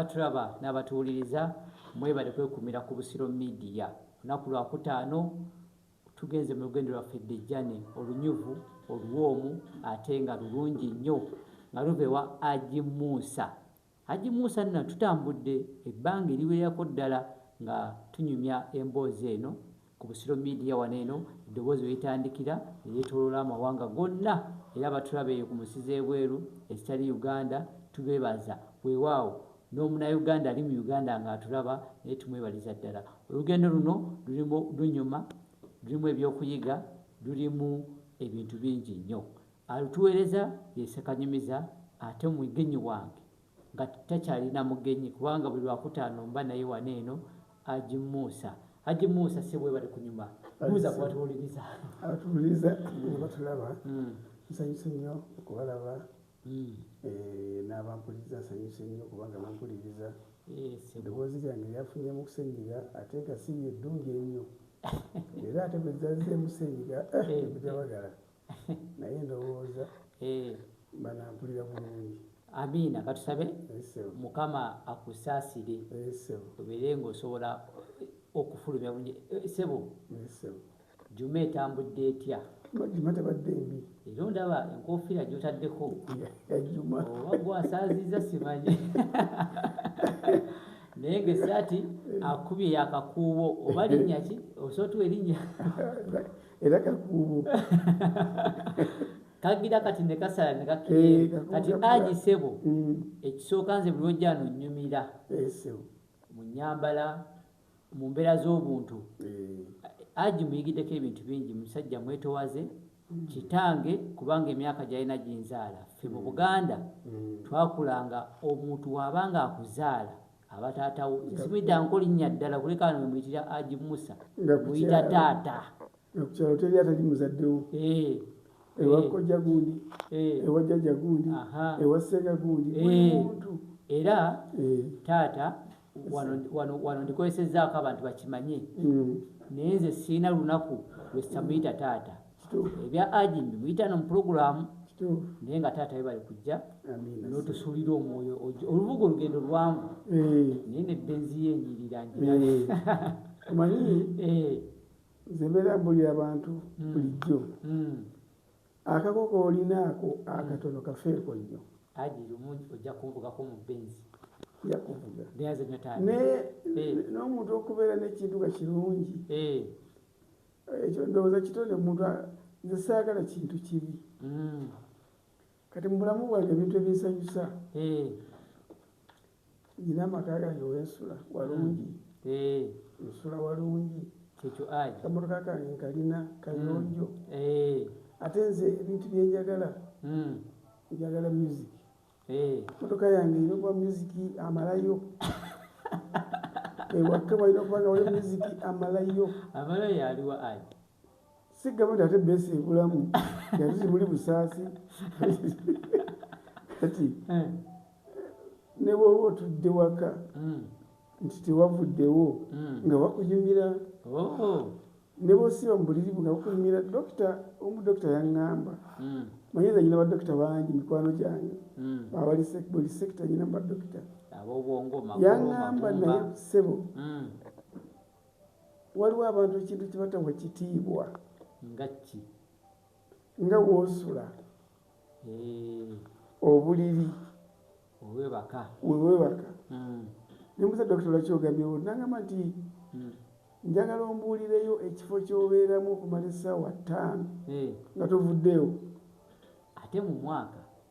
Abatulaba n'abatuwuliriza mwebale kwekumira ku Busiro Media. Olunaku Lwakutaano tugenze mu lugendo lwaffe Dejane olunyuvu, oluwoomu ate nga lulungi nnyo nga luva ewa Haji Musa. Haji Musa nno tutambudde ebbanga eriwererako ddala nga tunyumya emboozi eno Ku Busiro Media wano eno eddoboozi we litandikira ne lyetooloola amawanga gonna era abatulaba eyo ku munsi z'ebweru ezitali Uganda tubeebaza weewaawo n'omunayuganda ali mu Uganda ng'atulaba naye tumwebaliza ddala. Olugendo luno lulimu lunyuma, lulimu ebyokuyiga, lulimu ebintu bingi nnyo. Alutuweereza ye Ssekanyumiza ate mwegenyi wange. nga takyalina mugenyi kubanga buli lwakutaano mba naye wano eno Haji Musa Haji Musa ssebo webale kunyuma buuza ku batuwuliriza abatuwuliriza nga batulaba mm. nsanyuse nnyo okubalaba mm. eh, n'abampuliriza nsanyuse nnyo kubanga bampuliriza eddoboozi lyange lyafunye mu kusenyiga ate nga siri eddungi ennyo era ate bwe zazze musenyiga eh, eh, bujabagala naye ndowooza eh. banampulira bulungi amiina katusabe mukama akusaasire obeere ngaosobola okufulumya bulungi eh, sebo juma etambudde etya juma tabadde mbi era ondaba enkofiira gyotaddeko juma oba gwasaaziza simanyi naye ngaesaati akubye yakakuubo oba linnya ki osobola tuwa erinnya era kakuubo kagira kati ne kasala ne kakiri eh, kati aji sebo mm. ekisooka nze buli wojja no nyumira eh, mu nyambala mu mbeera z'obuntu eh. aji muyigiddeko ebintu bingi musajja mwetowaze mm. kitange kubanga emyaka gyalina ginzaala ffe mu mm. buganda twakulanga omuntu wabanga akuzaala aba taata wo nze simuyitanko linnya ddala kuleka ano wemuyitira aji musa muyita taata ku kyalo teri atali muzaddewo eh, ewa eh. kojja gundi eh. ewa jjajja gundi ewa ssenga gundi muntu era taata wano ndikozesezaako abantu bakimanye mm. naye nze siina lunaku lwesamuyita taata ebya agent muyita no muprogramu naye nga taata webali kujja notusuulira omwoyo olubuga olugendo lwangu eh. naye nebenzi yenyirira njimanyi eh. eh. nze mbeera buli abantu hmm. bulijjo hmm. akakoko olinaako akatono hmm. kafeeko nnyo aji lumu ojja kunvugako mu benzi yakuvuga naye n'omuntu okubeera n'ekintu nga kirungi ekyo ndowooza kitone muntu nze saagala kintu kibi mm. kati mubulamu bwange ebintu ebinsanyusa eh. nyina amaka gange wensula walungi mm. eh. nsula walungi kamotoka kange nkalina kayonjo mm. eh. ate nze ebintu byenjagala njagala music Eh. motoka yange ina okuba musiki amalayo ewakka eh, walina okuba nga wali musiki amalayo amalayo aliwa ai si gavumenti ate besi ebulamu yati zimuli busaasi kati eh. ne bwoba otudde waka hmm. nti tewavuddewo hmm. nga wakuyumira oh. ne bwosiba mu buliri bwe nga bukunyumira dokita omu dokita yaŋŋamba hmm. manyinza nyina badokita bangi mikwano gyange hmm. abali buli sekita nyina mu badokita yaŋŋamba naye ssebo hmm. waliwo abantu ekintu kibatawa kitiibwa ngaki nga wosula obuliri wewebaka hmm. nemuza dokita lwaki ogambyewo nangamba nti hmm. njagala ombuulireyo ekifo kyobeeramu okumala essaawa ttaano nga tovuddeewo ate mu mwaka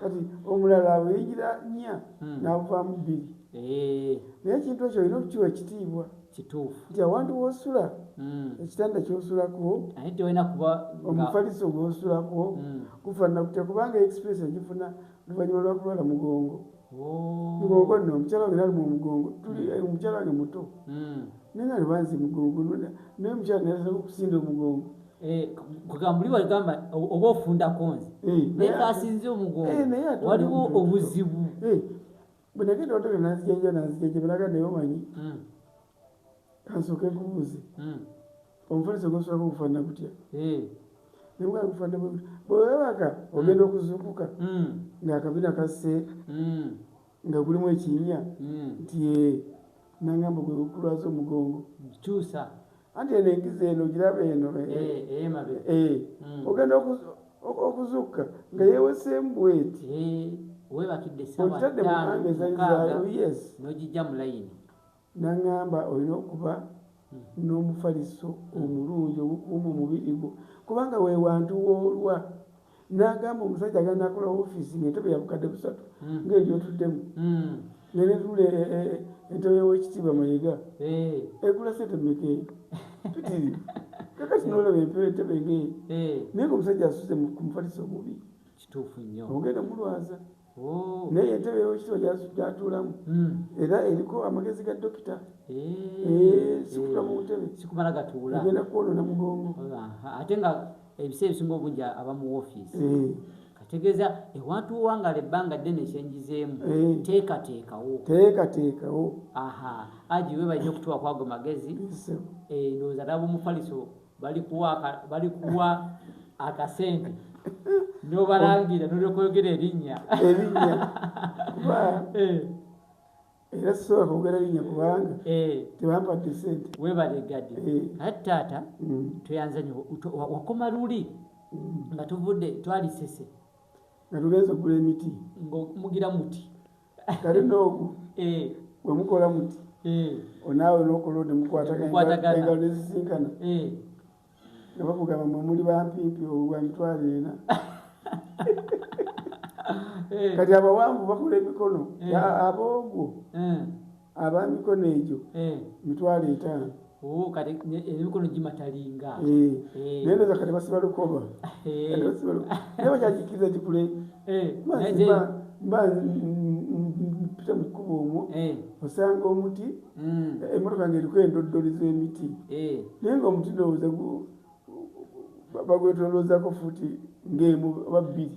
kati omulala aweyingira nya hmm. navaamu bbiri eh. naye ekintu ekyo olina okukiwa ekitiibwa kituufu nti awantu wosula hmm. ekitanda kyosulako omufaliso gwosulako hmm. gufanana kutya kubanga express egifuna luvanyuma lwakulwala mugongo oh. mugongo no omukyala wange nalimu omugongo tuli eh, omukyala wange muto naye nga nebanzi mugongo naye omukyala nayasala okusinda omugongo Eh, kugamba oli wagamba oba ofundako nze eh, naye kasinze omugongo eh, waliwo obuzibu bwenagenda otole nanzijenja nanzijenja belaga naye omanyi hmm. kansooke nkubuuze hmm. omufaliso gosobola okufanana gutya nemwakufanana bwewebaka hmm. ogenda okuzuukuka ngaakabina kasse nga gulimu ekinnya hmm. nti ee nangamba gwe gukulwaza omugongo kyusa anti eno enkiza eno giraba eno eh, eh, eh, hmm. ogenda okuzukka nga yeweseemu bweti webakidde sawa tano mukaaga nojijja mulayini N'aŋŋamba, Olina okuba n'omufaliso omulungi ogukuuma omubiri gwo, kubanga we wantu w'olwa. N'agamba omusajja agenda n'akola woofiisi ng'entebe ya bukadde busatu ng'eyo gy'otuddemu, nga n'etunula e, e, e, entebe y'Owekitiibwa Mayega egula ssente mmeka eyo? Mpitirivu. Kakati n'olaba empewo entebe ng'eyo, naye ng'omusajja asuze ku mufaliso omubi. Kituufu nnyo. Ogenda mulwaza. Oh. naye entebe yowekitibwa gyatuulamu hmm. era eriko amagezi ga dokita eh. eh, sikutula mu ntebe sikumala gatuula agenda kwonona mugongo ate nga ebiseera ebisinga obungi aba mu ofiisi eh. kategeeza ewantu wangala ebbanga ddene kyenjizeemu teekateekawo teekateekawo aha agiwe balina okutuwa kwago magezi endowooza laba omufaliso balikuwa akasente nobalangira nolyokoyogera erinnya erinnya kuba eh. era sisobola kwogera erinnya kubanga eh. tebampadde sente webalegade eh. ati taata mm. tweyanzanyo wakoma luli mm. nga tuvudde twalisese nga tugenza okugula emiti ngaomugira muti kale noogu eh. bwe mukola muti eh. onaawe n'okola ode mukwataganaengalo nezisinkana eh. nga bakugamba mwe muli bampimpi obwa mitwalo ena kati abawanvu bakola emikono aboogwo aba mikono egyo eh. mitwalo etaano oh, emikono gimatalinga eh. eh. naye noza kati basiba lukoba naye bakyakikiriza kikule mba mpita mu kkuba omwo osanga omuti hmm. emotoka nga eriko endoddoli z'emiti naye nga omuti ndowooza bagwetoloozako futi ng'emu oba bbiri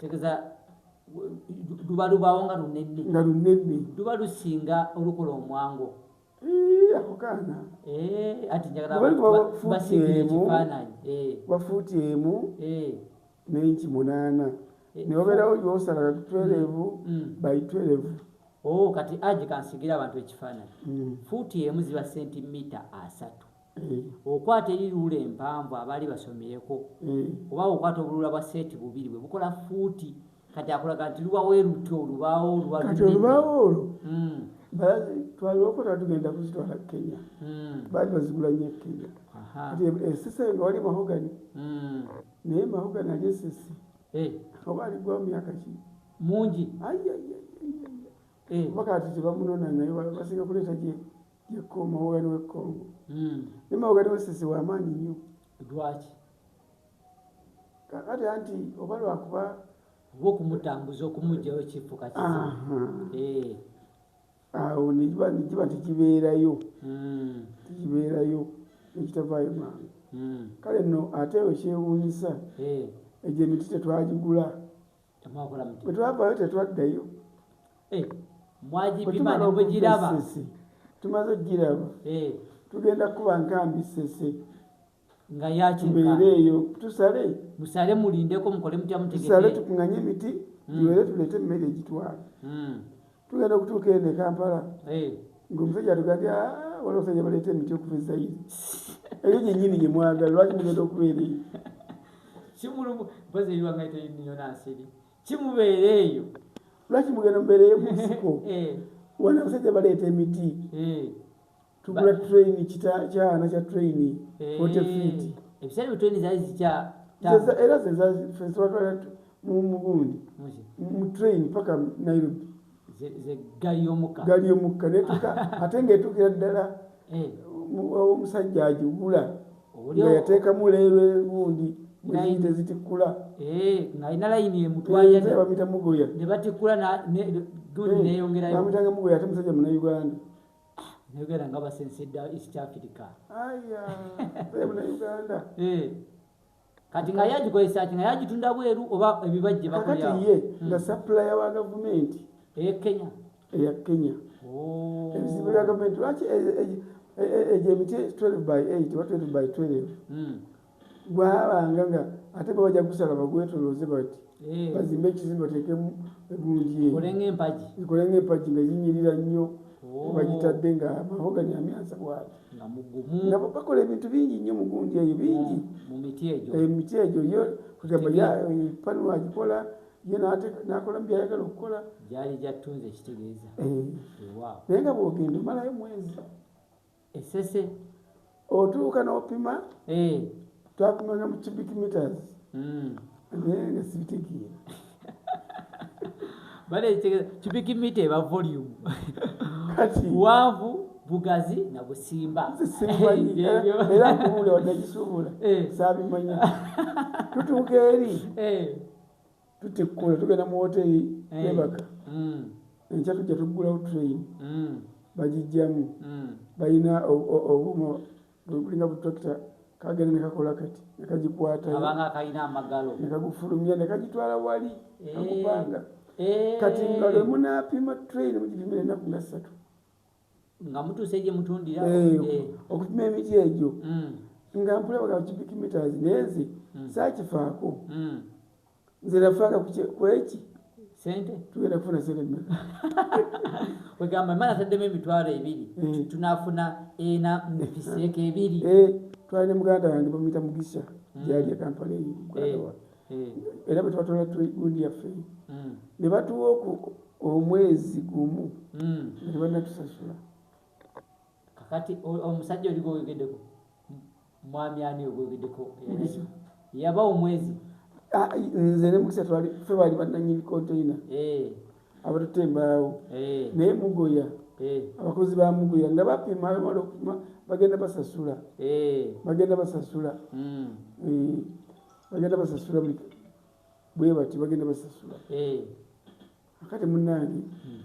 tegeza luba lubawo nga lunene nga lunene luba lusinga olukola omwango akukaana bafuuti emu nenki munaana newabeerawo gyosalaga kutwerevu by twerevu kati aje kansigira abantu ekifaananyi fuuti emu ziba sentimita asatu Eh. okwata eri luula empanvu abaali basomyeko eh. oba okwata obuluula bwa seeti bubiri bwe bukola fuuti kati akulaga nti lubawo eruti olubaawo kati olubaawo olwo hmm. twaliokota tugenda kuzitwala kenya hmm. baali bazigula nyo ekenya esisi eh, nga wali mahogani hmm. naye mahogani ali esisi oba aligwawo myaka ki mungi oba kati tebamunona naye basinga kuleeta gye yekuuma wogani we congo hmm. naye mawogani we sisi wamaanyi nnyo lwaki kakati anti oba lwakuba oba okumutambuza okumugjayo kifuka eh. awo nigiba nigiba tikibeerayo hmm. tikibeerayo nekitavaayo mangu hmm. kale no ate ekyewuunyisa eh. egyo emiti tetwagigula bwetwavayo tetwaddayo eh, mwagipimanaogirabasese tumaze okugiraba eh. tugenda kuba nkambi sese nga yakibeere eyo tusale musale mulindeko mukole mutya mutegesale tukunganye emiti hmm. tuwere tulete emmere egitwala hmm. tugenda okutuuka eno e kampala ngaomusajja atugamby wali omusajja baleeta emiti okuva ezayiri eyo gyenyini gye mwagala lwaki mugenda okubeera eyo kimulubuziwangaiteyonasiri kimubeera eyo lwaki mugenda mubeera eyo musiko wana omusajja baleeta emiti tugula train kita kyana kya train eh, forty feet ebiseera bye train zaali zikya era zezazifeswatwala mu mugundi mu train paka nairobi gali yomukka gali yomukka netuka ate ngaetukira ddala eh. omusajja agigula nga yateekamu leero egundi muyini tezitikkula eh, ngaalina layini emutwayabamita eh, mugoya nebatikkula gundi neyongerayo bamitanga mugoya ate musajja munauganda njogera nga basensedda east africa eh. kati nga yagikozesaki nga yagitunda bweru oba ebibajje bakati ye hmm. nga supplier wa gavumenti eya kenya eya kenya oh. ebizibu bya gavumenti lwaki egyo e, e, e, emiti 12 by 8 oba 12 by 12 hmm. gwabanga nga ate bwe bajja kusala bagwetolooze bati eh. bazimbe ekizimbe bateekemu egundi ekole ng'empagi nga zinyirira nnyo oh. bagitadde nga mahogani amyansa bwati nga bakola ebintu bingi nnyo mu gundi eyo bingi emiti egyo eh, yo kugamba panu agikola ye nakola mubyayagala okukola gyali gyattunze ekitegeeza eh. naye nga bwogenda omalayo mwezi esese otuuka nopima eh. twapimanga mu cubic meters hmm. naye nga sibitegeera baleetegeza cubic meter eba volume kati waavu bugazi na busimba era nkubuula wadde gisuubula eh. saabimanya tutuuka eri eh. tutikula tugenda mu woteri mm. twebaka mm. enkya tujja tuggulawo train mm. bagijjamu balina obuuma bulinga butrakita kagenda nekakola kati nekagikwataonekagufulumya nekagitwala wali eh. akupanga eh. kati nga lwemunapima train mugipima enaku nga ssatu nga mutuuse gye mutundira eh, eh. okupima emiti egyo mm. nga mpula baga cubic meters naye nze mm. saakifaako mm. nze nafaaka kweki sente tugenda kufuna sente mmeka wegamba mala taddemu emitwalo ebiri eh. tunafuna ena mubiseeko ebiri twali ne muganda wange bamuyita mugisha gyali ekampala eyo hmm. era bwe twatwala gundi yaffe hmm. ne batuwa omwezi gumu hmm. ne banatusasula kakati omusajja oli gwoyogedeko mwami ani ogwoyogedeko yaba omwezi ah, nze ne mukisa twali fe bali bananyini konteina eh. abatute embaawo eh. naye mugoya eh. abakozi ba mugoya nga bapima bamala okupima bagenda basasula bagenda basasula hmm. bagenda basasula bwebati bagenda basasula eh. akati munange hmm.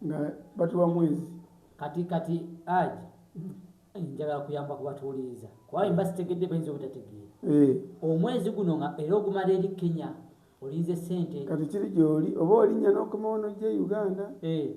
nga batuwa mwezi kati kati aji hmm. njagala kuyamba kubatuwuliriza kuba emba sitegedde bayinza obutategeera eh. omwezi guno nga era ogumala eri kenya olinze sente kati kiri gyoli oba olinya nokomawono gye uganda eh.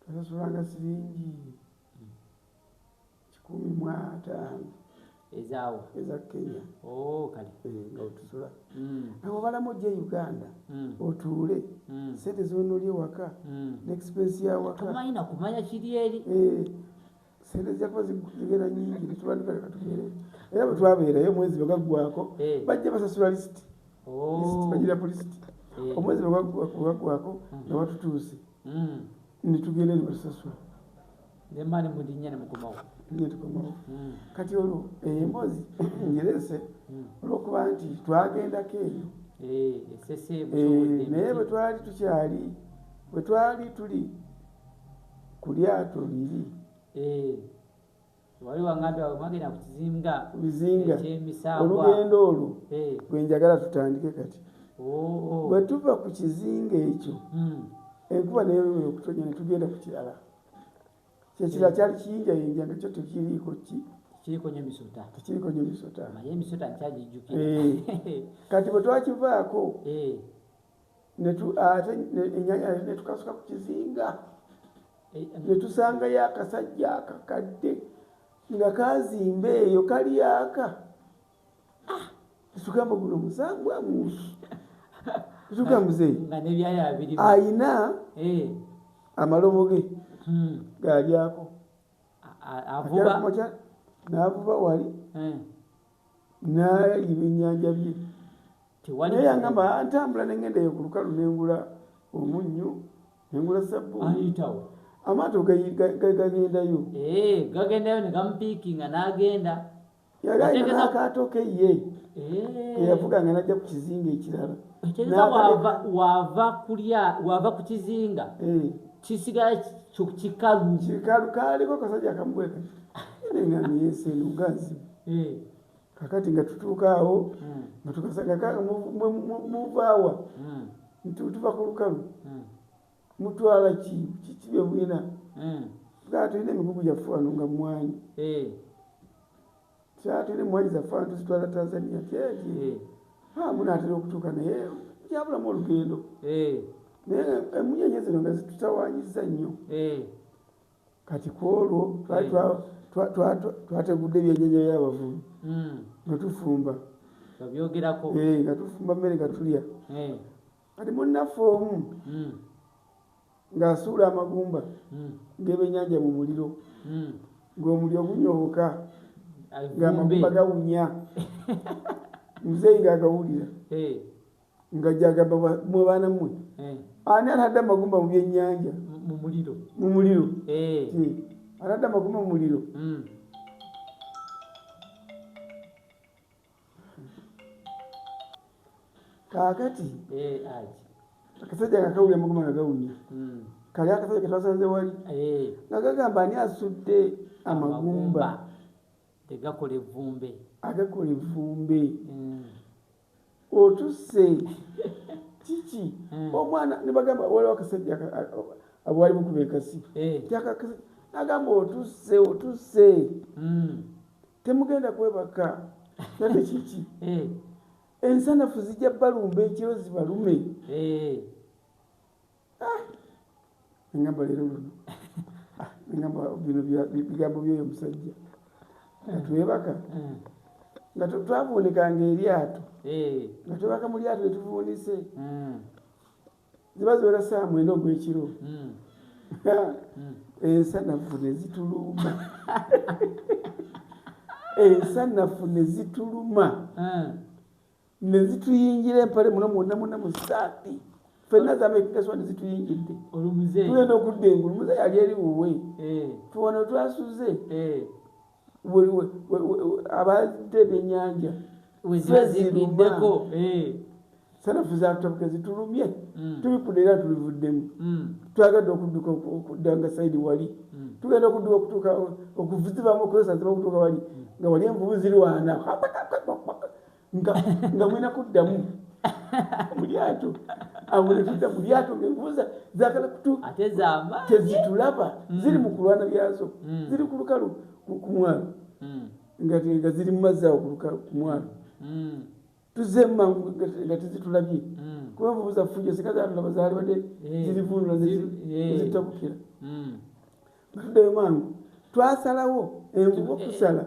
twasasulanga siringi kikumi mu ataano ezaawa eza kenya oh, kale eh, nga otusula hmm. nawe obalamu ojja e uganda hmm. otuule hmm. sente zonoli ewaka neexpensi yawaka tomanyi nakumanya kiri eri eh, sente zyakuba zigenda nyingi netubandika leka tubeere era bwe twabeerayo omwezi bwe gaggwako eh. bajja basasula lisiti oh. bagira ku lisiti eh. omwezi bwe gaggwako mm. nga batutuuse mm. netugenda ne batusasula nemaani mudinya ne mukomawo ne tukomawo mm. kati olwo eyo eh, emboozi njerese olwokuba nti twagendako eyo naye bwe twali tukyali bwe twali tuli kulyato liri eh, olugendo olwo eh. gwenjagala tutandike kati bwetuva oh, oh. ku kizinga ekyo hmm. enkuba naye okutonya netugenda ku kirala kyekirala eh. kyali kiyinjayinja nga kyo tekiriiko ki kiriko nyo misota tekiriko nyo misota naye misota nkyagijjukira eh. kati bwe twakivaako eh. ate enyanya netukasuka ku kizinga netusangayo akasajja akakadde nga kazimba eyo kali aka ah, tugamba guno musambwa mungi tuga muzeyi ayina eh. amalobo ge hmm. galyako navuba wali eh. nalya ebyennyanja bye naye yangamba ntambula nengenda eyo ku lukalu nengula omunnyo nengula sabbuuni amaato gagendayo eh, gagendayo negamupiikinga nagenda yali alina n'akaato ke ye eh. eyavuga nga najja ku kizinga ekirala wava kulya wava ku kizinga eh. kisigala kikalu kikalu kaliko kasajja kamubweka nengamiyesenugazibu eh. kakati nga tutuuka awo hmm. nga tukasanga kanga muvaawa hmm. nti tuva ku lukalu hmm. mutwala kikibe bwina tugaa tulina emigugu gyaffe wano nga mwanyi eh. tugaa tulina emwanyi zaffe wano tuzitwala tanzania kyeki eh. ah, munaatera okutuuka naye yabulamu olugendo naye emunyenye zino nga zitutawanyiza nnyo kati kwolwo twategudde ebyennyanja by'abavubi hmm. nga tufumba eh, nga tufumba mmere nga tulya eh. kati munnaffe omu hmm. ng'asuula amagumba hmm. ng'ebyennyanja mu muliro ng'omuli ogunyooka ng'amagumba gawunya muzeeyi ng'agawulira eh. nga gyagamba mwe baana mmwe eh. ani anadda amagumba mu byennyanja mu muliro mu muliro eh. eh. anadda amagumba mu muliro hmm. kaakati akasajja nga kawulira amagumba nga gawunya hmm. kali akasajja ketwasanze wali nga gagamba ani asudde amagumba tegakola evvumbe agakola evvumbe hmm. otusse kiki omwana nebagamba waliwo akasajja abwali bukuba ekasi eh. agamba otusse otusse hmm. temugenda kwebaka nate kiki eh. ensanafu zijja balumba ekiro zibalume eh. engamba ah! leero luno ah, engamba bino bigambo byoyo omusajja hmm. twebaka hmm. nga twavuunikanga eryato eh. nga twebaka mu lyato netuvuunise hmm. ziba ziwera saa mwenda ogwekiro ensanafu nezituluma ensanafu nezituluma ne zituyingira empale muno mwonna mwonna mu saapi fenna zameekikaswa ne zituyingidde tugenda okudda engulu muze yali eri wuwe eh. tuwano twasuze eh. abadde ebyenyanja wezibideko eh. sanafu zatabuka zitulumye mm. tubikuda era tulivuddemu mm. twagadde okudduka okudda nga saidi wali mm. tugenda okudduka okutuuka okuvuzibamu okukozesa ziba okutuuka wali nga wali envubu ziri wana nga nga mwena kuddamu mulyato awo netudda mulyato ngenkubuza zagala kutu ate zama tezitulaba mm. ziri mu kulwana byazo mm. ziri ku lukalu ku mwalo mm. nga nga ziri mu mazzi awo ku mwalo mm. tuze mangu nga tezitulabye mm. kuba nvubuza fujo sika zatulaba zalibadde eh. zirivunula zitabukira eh. mm. nga tuddayo mangu twasalawo envuba eh, okusala eh.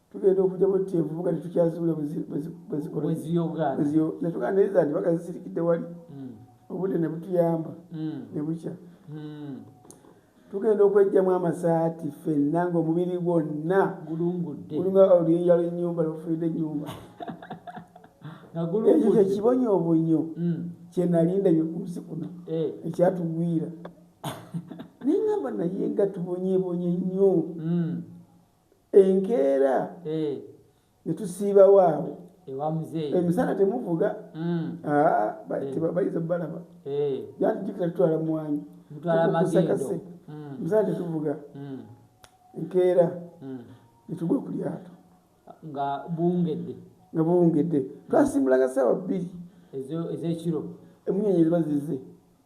tugenda okujja mu ti envubuka tetukyaziwula bwezikolanetugana naye zanti baka zisirikidde wali hmm. obudde ne butuyamba hmm. ne bukya hmm. tugenda okwejjamu amasaati fenna ngaomubiri gwonna gulunga oluyinja lwenyumba lwofulidde enyumba ekyo kyekibonyo obunyo kyenalinda byekunsi kuno eh. ekyatugwira naye ngamba naye nga tubonyebonye nnyo enkeera eh. ne tusiibawo awo emisana temuvuga hmm. ah, eh. bayinza balaba jantijukira tutwala mwanyi kusakase hmm. emisana tetuvuga hmm. enkeera netugwa ku lyato nga buwungedde nga buwungedde twasimbulanga saawa bbiri ezekiro emunyonyi ziba zize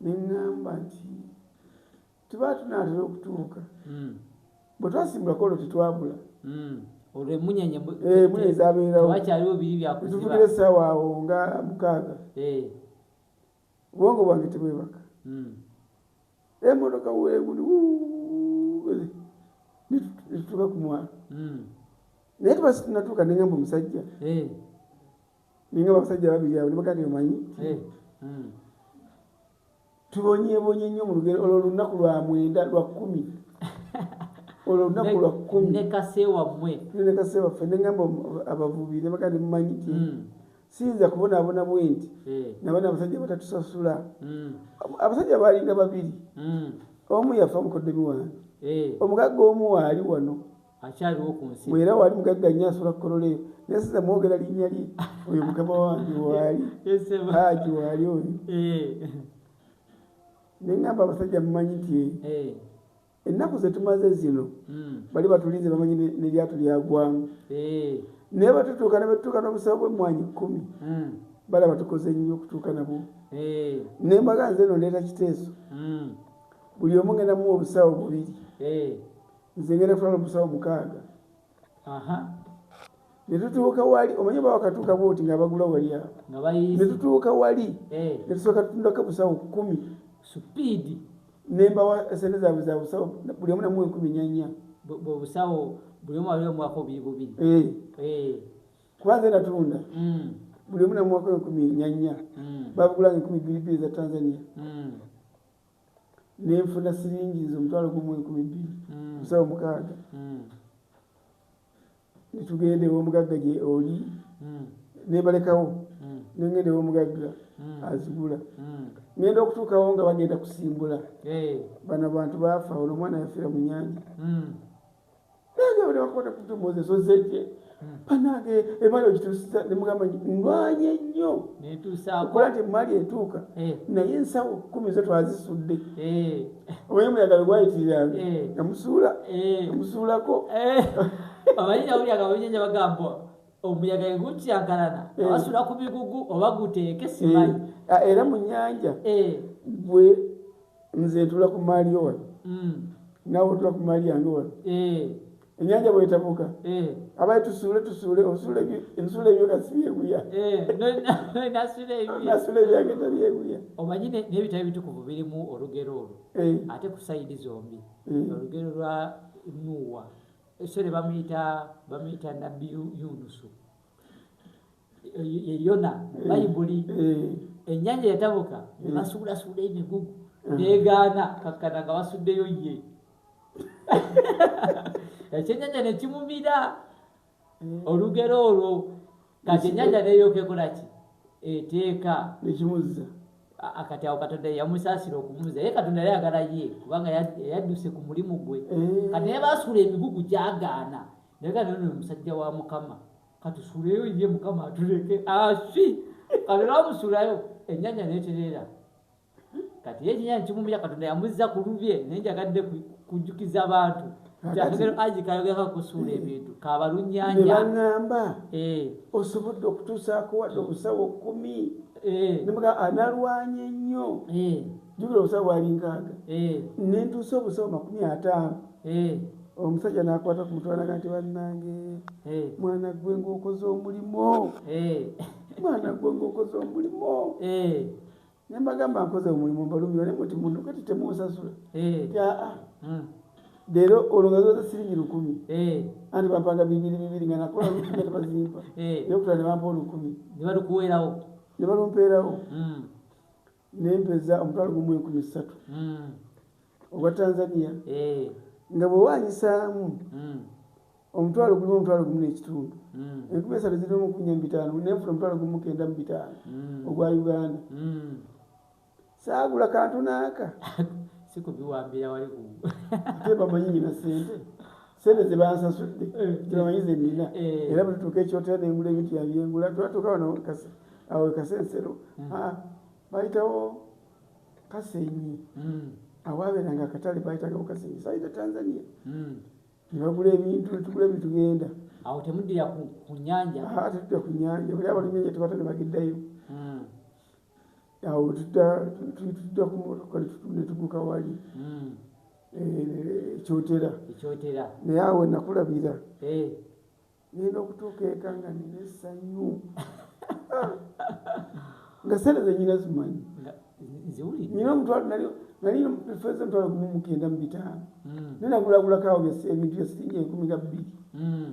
ne ŋŋamba nti tuba tunaatera okutuuka hmm. bwe twasimbulako olwo tetwabula hmm. olwo emunyanya eh, munya ezabeerawowakyaliwo biri byakutuvugira essaawa awo nga mukaaga eh. obwongo bwange tebwebaka hmm. emotoka wemuli netutuuka ku mwalo naye tuba situnatuuka neŋamba omusajja eh. ninga abasajja babiri abo nibagandi omanyi eh, hmm. tubonyebonye nnyo mu lugero olwo olunaku lwa mwenda lwa kkumi olwo olunaku lwa kkumi nekaseewamwe nekaseewaffe nengamba abavubi nibagandi mumanyi ti hmm. siyinza kubonaabona bwe nti eh. nabana abasajja batatusasula hmm. abasajja baalinga babiri omu yafa mukoddomi wange eh. omugagga omu waali wano akyaliwo ku nsi era wali mugagga nnyo asobola kukolola eyo naye siza mwogera linnya lye oyo mukama wange waali haji waali oyo eh. ne ŋamba abasajja mumanyi nti eh. ennaku zetumaze zino hmm. bali batulinze bamanyi neryatu lyagwamu eh. naye batutuuka nebetutuuka n'obusawo bwemmwanyi kkumi hmm. balaba tukoze nnyo okutuuka nabwo naye mbaga nze no ndeeta kiteeso hmm. buli omu ngenda muwa obusawo bubiri nze ngenda kutwala omusawo mukaaga aha netutuuka wali omanye ba wakatuuka bwoti nga abagula wali awo netutuuka wali eh. netusooka tutundako busawo kumi supiidi nembawa sente zaabwe za busawo buli omu namu enkumi nyanya bwebusawo buli omu waliwo omwaka obiri bubiri eh. eh. kuba nze natunda mm. buli omu namu mwaka enkumi nyanya mm. babugulanga enkumi bbiri bbiri za tanzania mm. nenfuna siringi nze omutwalo gumu enkumi bbiri mm. musawo mukaaga mm. netugenda ewomugagga gye oli mm. nebalekawo nengenda ewomugagga azigula ngenda okutuukawo nga bagenda kusimbula bano abantu baafa olwo omwana yafiira mu nyanja nange buli wakubona kutu moses ozeje hmm. banange emali ogituusiza nemugamba ndwanye nnyo okola nti emali etuuka eh. naye ensawo kumi zo twazisudde eh. omanyi omuyaga lwegwayitiriranga eh. namusuula namusuulako amanyi nawulyaga babinyanya bagamba omuyaga egukyankalana abasula ku bigugu oba guteeke simanyi ah, era mu nyanja bwe nze ntula ku maali yo wano mm. nawe otula ku maali yange wano eh. enyanja bwetabuka eh. abaye tusuule tusuule osuula ensuula ebyo kasi byeguya nasula ebyange tabyeguya omanyi nebitabo ebitukuvu birimu olugero olwo ate ku sayidi zombi olugero lwa nuwa esere bamuyita bamuyita nabbi yunusu ye yona mu eh, bayibuli eh. ennyanja yatabuka ne eh. basuulasuula emigugu negaana kakkana nga basuddeyo ye ekyennyanja ne kimumira olugero olwo kati ennyanja neyokekolaki eteeka nekimuzza akati awo katonda yamusaasira okumuza ye katonda yali agala ye kubanga yadduse ku mulimu gwe kati naye basuula emigugu gyagaana naye ganono omusajja wa mukama katusuleyo ye mukama atuleke asi kati namusulayo enyanya neterera kati ye ekinyanya kimumira katonda yamuzza ku lubye naye njagadde kujjukiza abantu kyakagero aji kayogera kusuula ebintu kabalunyanya nebaŋamba eh. osobodde okutuusaako wadde obusawo kumi eh. nemuga analwanye nnyo eh. jukira obusawo bwali nkaaga nentuusa obusawo makumi ataano omusajja nakwata ku mutwe naga nti bannange mwana gwe ngaokoze omulimo mwana gwe ngaokoze omulimo nembagamba nkoze omulimu mbalumira ne muti muntu kati temunsasula aa hmm. leero olwo nga zoza siringi lukumi anti bampanga bibiri bibiri nga nakola lukumi tebazimpa nokutula nebampa olukumi nebalukuweerawo nebalumpeerawo hmm. nempeza omutwalo gumu enkumi ssatu hmm. ogwa tanzania eh. nga bwewanyisaamu hmm. omutwalo gulimu omutwalo gumu nekitundu hmm. enkumi esatu ziri omu kunya mubitaano nenfuna omutwalo gumu kenda mu bitaano ogwa uganda saagula kantu naaka sikubiwambira wali kubamanyi nyina sente sente zebansasudde eh, tebamanyi zenina eh. era bwetutuuka ekyotera nengula ebintu yabyengula twatuuka wano awo kasensero hmm. ah, bayitawo kasenyi hmm. awaberanga akatale bayitagawo kasenyi sayita tanzania hmm. nebagula ebintu netugula ebintu genda awo temuddira kunyanja ah, tetudda kunyanja buli abalumyanja tebata nebageddayo awo tujja kumotoka netuguka wali hmm. eh, ekyotera naye awo nakulabira eh. nina okutuuka eka nga nina esanyu nga sente zenyina zimanyi nyina omutwalo nali feza omutwalo gumu mukenda mu bitaano hmm. naye nagulagulako awo ebintu byesiringi enkumi ga bbiri hmm.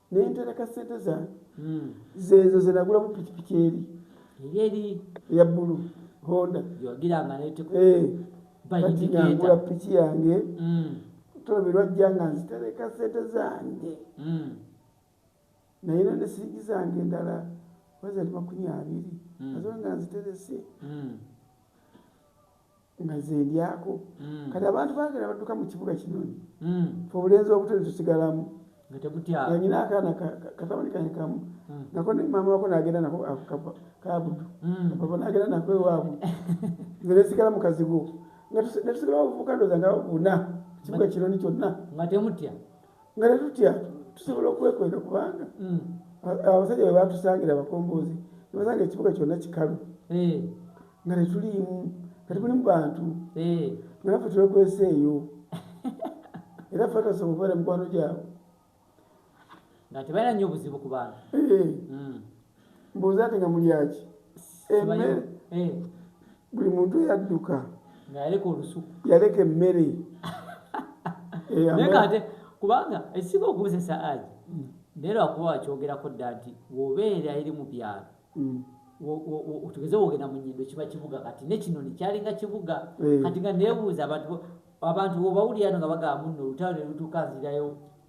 naye ntereka sente zange hmm. zezo zenagulamu pikipiki eri eri eya bulu honda eh, kati ngangula piki yange hmm. tolobe lwajja nga nzitereka sente zange hmm. naye nane siigi zange endala wazali makumi abiri azonga nziterese nga ze ndyako mm. kati abantu bagera badduka mu kibuga kinoni mm. fe obulenzi obuto netusigalamu anyina akaana katabani kanye kamu mm. nako maama wako nagenda nako kabudu mm. papa nagenda nako ewaabwe nze nesigala mu kazigo netusigalawo obuvuka ndoza nga buna kibuga kinoni kyonna nga temutya nga tetutya tusobola okwekweka kubanga mm. abasajja bwe batusangira abakombozi nebasanga ekibuga kyonna kikalu eh. nga tetuliimu nga tebuli mu bantu eh. nga naffe twekwesa eyo era fe tasobola okubeera mikwano gyabwe nga tebalina nnyo obuzibu ku bantu eh. mm. mbuuza ate nga mulyaki emmere eh. buli muntu eyadduka ngayaleka olusuku yaleka emmere eh, naye ate kubanga ekisinga okukozesa aji hmm. naye lwakuba wakyogerako dda nti wobeera eri mu byalo hmm. tugeze wogenda mu nyindo kiba kibuga kati nekinoni kyalinga kibuga eh. kati nga nebuuza abantu abantu wobawulirano nga bagamba muno olutalo nelutuuka nzirayo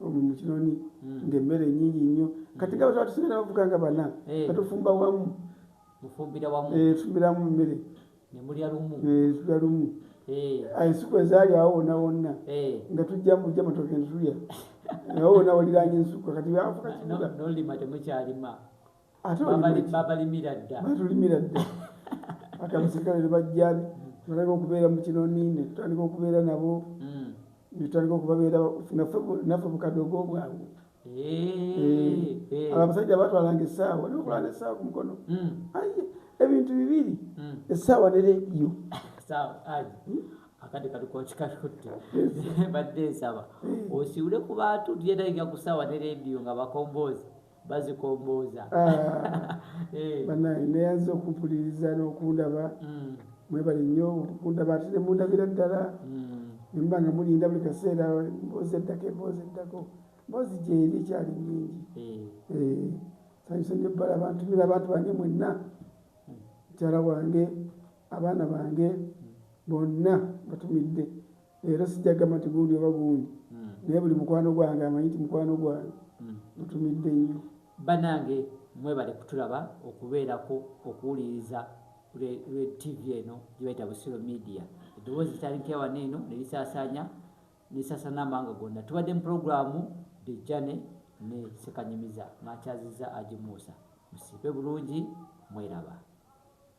omu mukinoni hmm. ngaemmere nyingi nnyo hmm. kati nga bataba tusigala bavuga nga bana eh. batufumba wamu tufumbira wamu eh, tufumbiramu mmere nemulya lumu eh, tulya lumu ensiku ezaali awo wona wonna nga tujja mujja matoke ntulya awo wona waliranya ensuku kati bafuka nolima temukyalima babalimira dda batulimira dda ati abasirikale ne bajja natandika okubeera mu kino nini tutandika okubeera nabo hmm. netutandika okubabeera naffe bukadogo bwabwe eh, eh. abo abasajja batwalanga essaawa nokulanga essaawa ku mukono hmm. aye ebintu bibiri hmm. essaawa ne rediyo akati kalikokikatutte badde nsaba osiwule ku bantu tujetagika ku ssaawa ne rediyo nga bakomboozi bazikombooza ah, eh. banaye neyaza okupuliriza nokundaba mm. mwebali nnyo okundaba ate nemundabira ddala mm. nemba nga mulinda buli kaseera mboozi eddako emboozi eddako mboozi gyeri ekyali nyingi eh. eh, sanyusa nyo bbala bantumira abantu bange mwenna mm. mukyala wange abaana bange bonna batumidde Era sijja gamba nti gundi oba gundi hmm. naye buli mukwano gwange amanyi nti mukwano gwange hmm. mutumidde nnyo banange mwebale kutulaba okubeerako okuwuliriza tv eno gyebayita busiro media eddoboozi litandikewana eno nelisaasaanya nesasana amawanga gonna tubadde mu pulogulaamu dejjane ne sekanyumiza makyazizza agimuusa musiibe bulungi mweraba